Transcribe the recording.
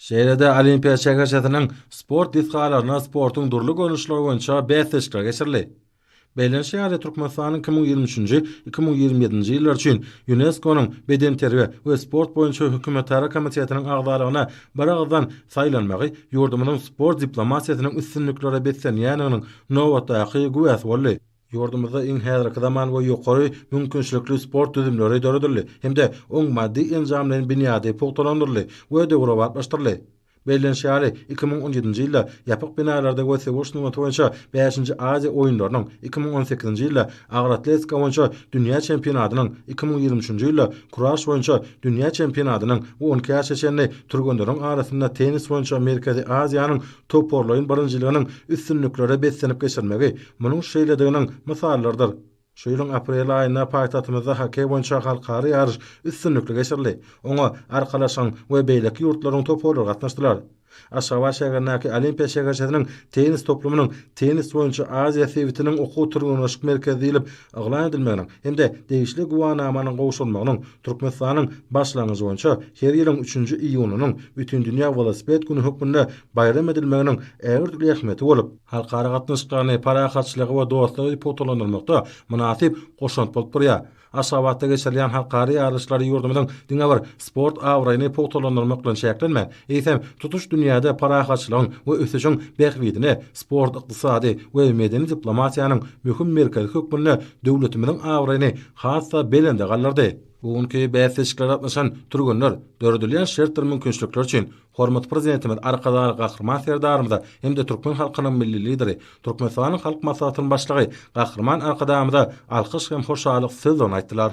Şeýle-de Olimpiýa şäherçesiniň sport desgalarynda sportuň dürli görnüşleri boýunça bäsleşikler geçirildi. Bellenişi ýaly, Türkmenistanyň iki müň ýigrimi üçünji, iki müň ýigrimi ýedinji ýyllar üçin ÝUNESKO-nyň Bedenterbiýe we sport boýunça hökümetara komitetiniň agzalygyna biragyzdan saýlanmagy ýurdumyzyň sport diplomatiýasynyň üstünliklere beslenýändiginiň nobatdaky güwäsi boldy. Ýurdumyzda iň häzirki zaman we ýokary mümkinçilikli sport düzümleri döredildi hem-de oň maddy-enjamlaýyn binýady pugtalandyryldy we döwrebaplaşdyryldy. Bellenişi ýaly, iki müň on ýedinji ýylda ýapyk binalarda we söweş sungaty boýunça bäşinji Aziýa oýunlarynyň, iki müň on sekizinji ýylda agroatletika boýunça dünýä çempionatynyň, iki müň ýigrimi üçünji ýylda kuraş boýunça dünýä çempionatynyň we on iki ýaşa çenli türgenleriň arasynda tennis boýunça Merkezi Aziýanyň toparlaýyn birinjiliginiň üstünliklere beslenip geçirmegi Munuň şeýlediginiň mysallarydyr, şu ýylyň aprel aýynda paýtagtymyzda hokkeý boýunça halkara ýaryş üstünlikli geçirildi. Oňa Arkalaşygyň we beýleki ýurtlaryň toparlary gatnaşdylar. Aşgabat şäherindäki Olimpiýa şäherçesiniň tennis toplumynyň Tennis boýunça Aziýa sebitiniň okuw-türgenleşik merkezi diýlip yglan edilmeginiň hem-de degişli güwänamanyň gowşurylmagynyň Türkmenistanyň başlangyjy boýunça her ýylyň üçünji iýunynyň Bütindünýä welosiped güni hökmünde baýram edilmeginiň ägirt uly ähmiýeti bolup halkara gatnaşyklaryny, parahatçylygy we dostlugy pugtalandyrmakda mynasyp goşant bolup durýar. Aşgabatda geçirilýän halkara ýaryşlary ýurdumyzyň diňe bir sport abraýyny pugtalandyrmak bilen çäklenmän, eýsem, tutuş dünýäde parahatçylygyň we ösüşiň bähbidine sport-ykdysady we medeni diplomatiýanyň möhüm merkezi hökmünde döwletimiziň abraýyny has-da belende galdyrdy. Bu günki bäsleşiklere gatnaşan türgenler döredilýän şertler-mümkinçilikler üçin Hormatly Prezidentimiz Arkadagly Gahryman Serdarymyza hem-de türkmen halkynyň Milli Lideri, Türkmenistanyň Halk Maslahatynyň Başlygy Gahryman Arkadagymyza alkyş hem hoşallyk sözlerini aýtdylar.